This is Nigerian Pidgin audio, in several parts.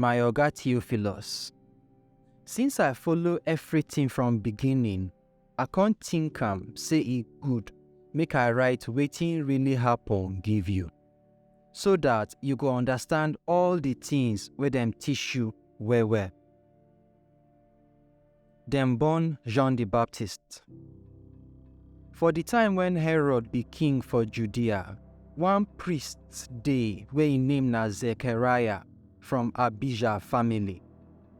My Oga Theophilus, since I follow everything from beginning, I come think am say e good make I write wetin really happen give you, so that you go understand all the things wey dem teach you well well. Dem born John di Baptist. For di time wen Herod be king for Judea, one priest dey wey im name na Zechariah from Abijah family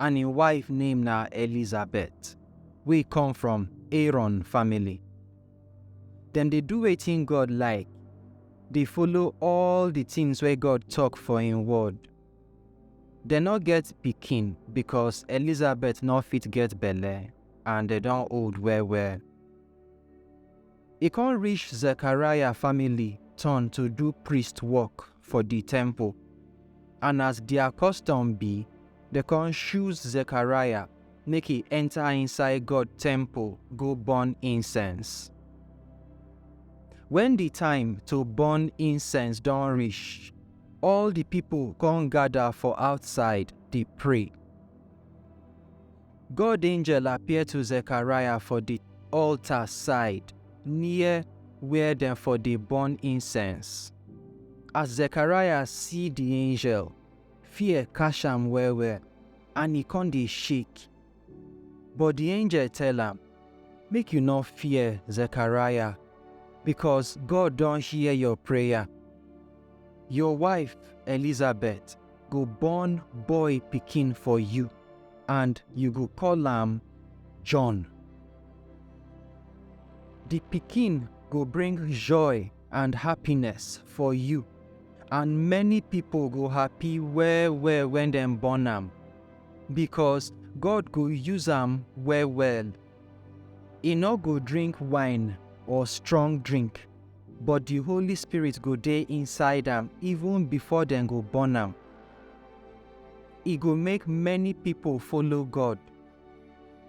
and im wife name na Elizabeth wey come from Aaron family. Dem dey do wetin God like, dey follow all di tins wey God tok for im Word. Dem no get pikin because Elizabeth no fit get belle and dem don old well well. E come reach Zechariah family turn to do priest work for di temple, and as dia custom be, dem come choose Zechariah make e enta inside God temple go burn incense. Wen di time to burn incense don reach, All di pipo kon gada for outsaid dey pray. God angel appear to Zekariah for di altar side near where dem for dey burn incense. As Zekariah see di angel, fear catch am well-well and e kon dey shake. But di angel tell am, Make you nor fear, Zechariah, becos God don hear your prayer. Your wife, Elizabeth, go born boy pikin for you, and you go call am John. Di pikin go bring joy and happiness for you, and many pipo go happy well-well wen dem born am. because God go use am well well. E no go drink wine or strong drink, but the Holy Spirit go dey inside am even before dem go born am. E go make many people follow God.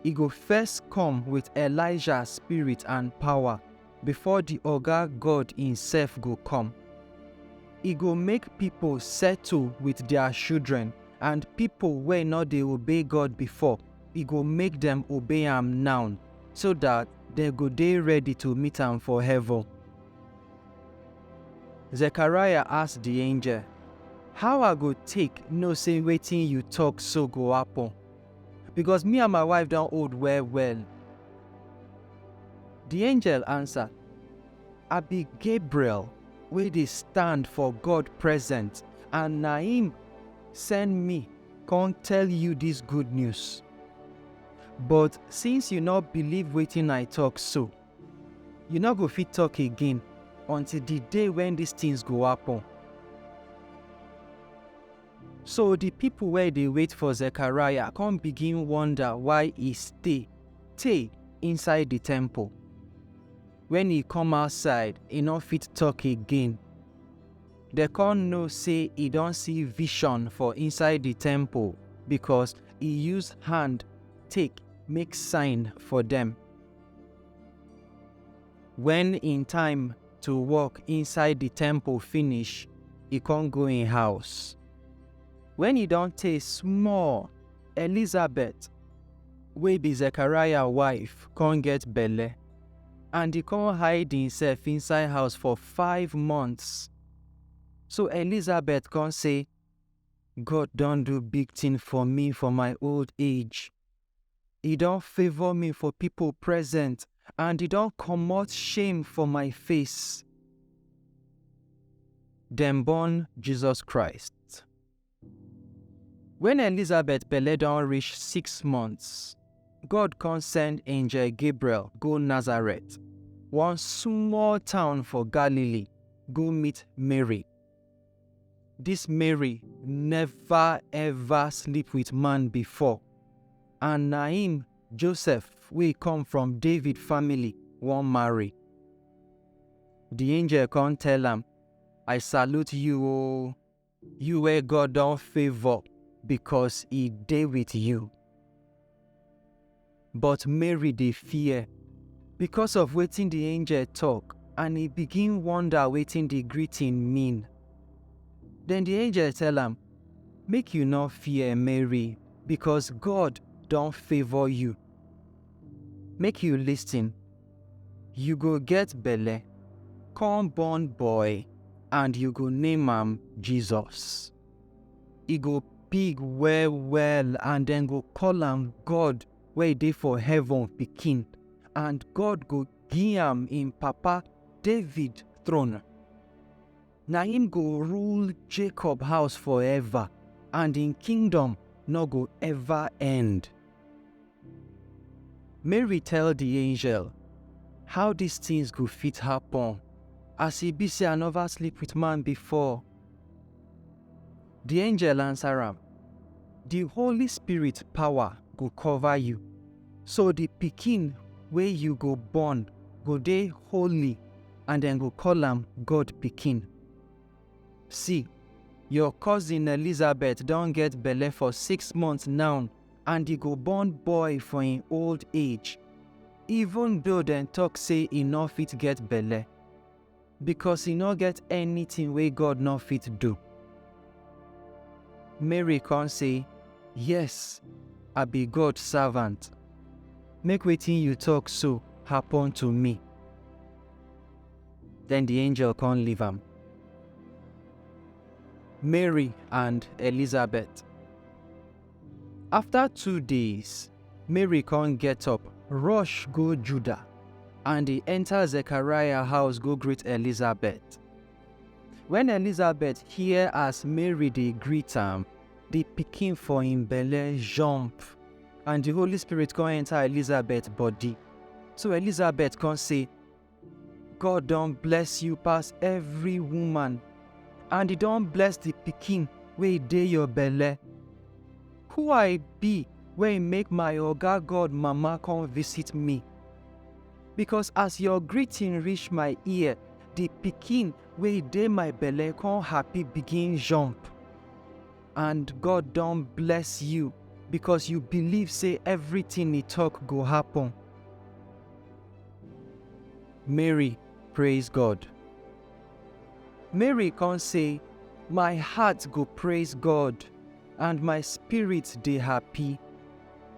E go first come with Elijah spirit and power. before di Oga God imsef go come. E go make pipo settle wit dia shudren and pipo wey nor dey obey God before, E go make dem obey am now, so dat dem go dey ready to meet am for heaven. Zechariah ask di angel, How I go take know sey wetin yu tok so go happen? because me and my wife don old well well. The angel answer, I be Gabriel wey dey stand for God present and na him send me come tell you this good news. But since you no believe wetin I talk so, you no go fit talk again until the day when these things go happen. So di pipo wey dey wait for Zekariah come begin wonder why e stay tey inside di temple. Wen e come outside, e no fit tok again. Dem come know sey e don see vision for inside di temple because e use hand take make sign for dem. Wen im time to work inside di temple finish, e kon go im house. Wen e don tey small, Elizabet, wey bi Zekariah wife, kon get belle, and e kon hide imsef inside house for five months. So Elizabet kon sey, God don do big tin for mi for my old age, E don favour me for pipo present and e don comot shame for my face. Dem born Jesus Christ. Wen Elizabeth belle don reach six months, God come send angel Gabriel go Nazareth, one small town for Galilee, go meet Mary, This Mary never ever sleep with man before and na him Joseph wey come from David family wan marry. The angel come tell am, I salute you o, you wey God don favour because he dey with you. But Mary dey fear because of wetin di angel tok and e begin wonder wetin di greeting mean. Den di angel tell am, Make you no fear, Mary, because God don favour you. Make you listen, you go get belle, come born boy, and you go name am Jesus. e go big well well and dem go call am God wey dey for heaven pikin and God go give am im papa David throne. Na him go rule Jacob house forever and im kingdom no go ever end. Mary tell the angel how these things go fit happen as e be say I never sleep with man before. Di angel ansa am, Di Holy Spirit pawa go kova yu, so di pikin wey yu go born go dey holy and dem go koll am God Pikin. Si, yor kozin Elizabet don get belle for six months naw and e go born boy for en old age, even doh dem tok sey e nor fit get belle. Because e no get anything wey God no fit do. Mary come say, Yes, I be God servant. Make wetin you talk so happen to me. Then the angel come leave am. Mary and Elizabeth. After two days, Mary come get up, rush go Judah, and he enter Zechariah house go greet Elizabeth. When Elizabeth hear as Mary dey greet am, the pikin for him belle jump, and the Holy Spirit come enter Elizabeth body. So Elizabeth come say, God don bless you pass every woman, and he don bless the pikin wey dey your belle. Who I be wey make my oga God mama come visit me? Because as your greeting reach my ear, the pikin wey dey my belle come happy begin jump. And God don bless you because you believe say everything he talk go happen. Mary praise God. Mary come say, My heart go praise God, and my spirit dey happy,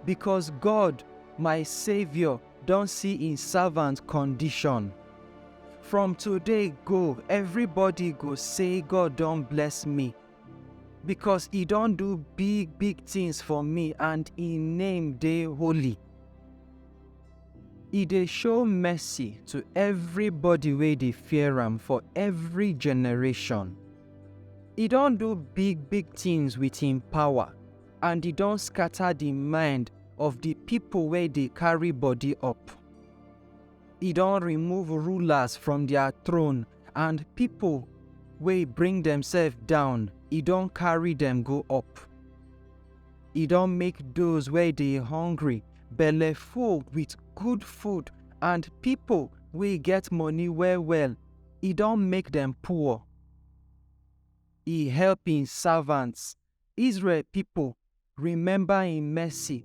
because God, my Savior, don see im servant condition. From today go, everybody go say God don bless me, because e don do big big things for me and im name dey holy. E dey show mercy to everybody wey dey fear am for every generation. E don do big big things with him power and e don scatter the mind of the people wey dey carry body up. E don remove rulers from their throne and pipo wey bring demsef down, e don carry dem go up. E don make those wey dey hungry belle full with good food, and pipo wey get money well-well, e don make dem poor. E help im servants Israel pipo remember im mercy,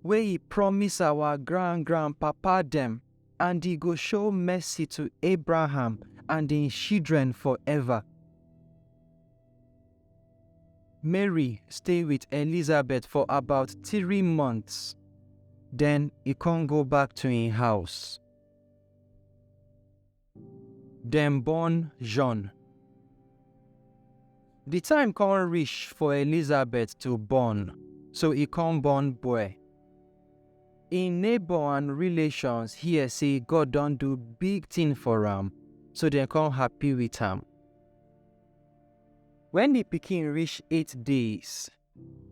wey e promise our grand-grand-papa dem, and e go show mercy to Abraham and im shidren forever. Mary stay wit Elizabeth for about three months, den e kon go back to im house. Dem born John. Di time kon rish for Elizabet to born, so e kon born bwe. Im nebor and rilashions hear sey God don do big tin for am, so dem kon hapi wit am. Wen di pikin rish eight days,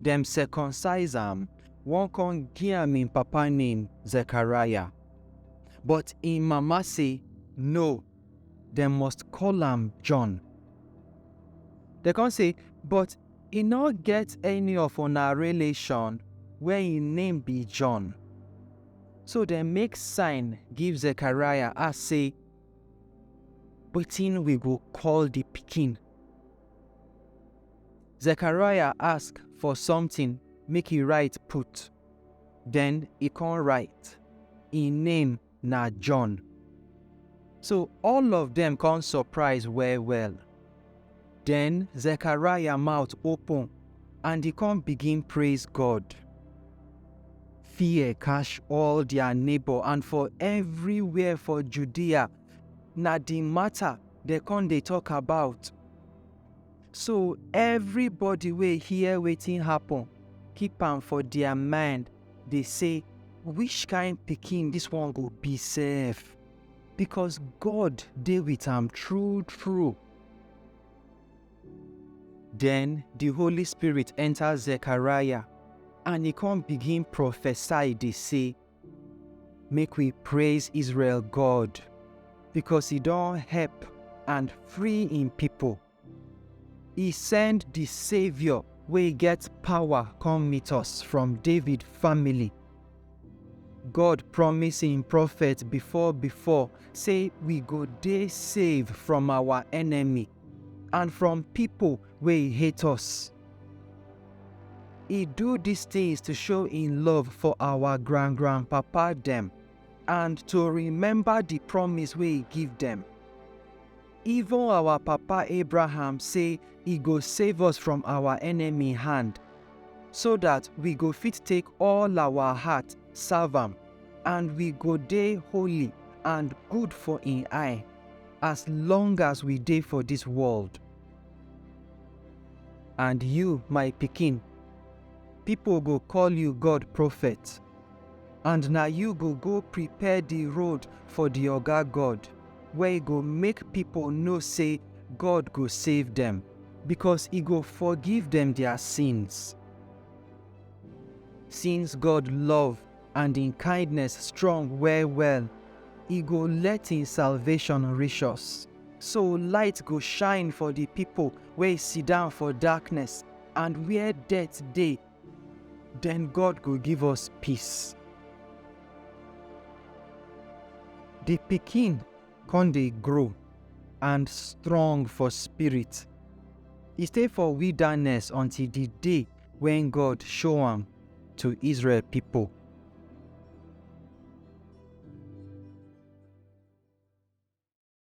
Dem circumcise am, won kon gi am en papa name Zechariah. But en mama sey, No, dem must koll am John. Dem kon sey, But e nor get any of una relashon wey en name bi John. So dem make sign give Zechariah, ask sey, Wetin wi go koll di pikin? Zechariah ask for something make e write put, then e come write, Im name na John. So all of dem come surprise well well. Then Zechariah mouth open and e come begin praise God. Fear catch all their neighbor and for everywhere for Judea, na the matter dem come dey talk about. So everybody wey hear wetin happen keep am for their mind dey say which kind pikin this one go be sef because God dey with am true true. Then the Holy Spirit enter Zechariah and he come begin prophesy dey say make we praise Israel God because he don help and free im people E send di Saviour wey get power come meet us from David family. God promise im prophet before before say we go dey save from our enemy and from pipo wey hate us. E do dis tins to show im love for our grand grand papa dem and to remember di promise wey e give dem. Even our papa Abraham sey e go save us from our enemy hand, so dat we go fit take all our heart serve am, and we go dey holy and good for im eye, as long as we dey for dis world. And you, my pikin, pipo go call you God Prophet. and na you go go prepare di road for di Oga God, where e go make pipo know sey God go save dem, becos e go forgive dem dia sins. Since God love and im kindness strong well-well, e go let im salvation rish us, so light go shine for di pipo wey sidon for darkness and where death dey, Then God go give us peace. The pikin con dey grow and strong for spirit. E stay for wilderness until the day when God show am to Israel people.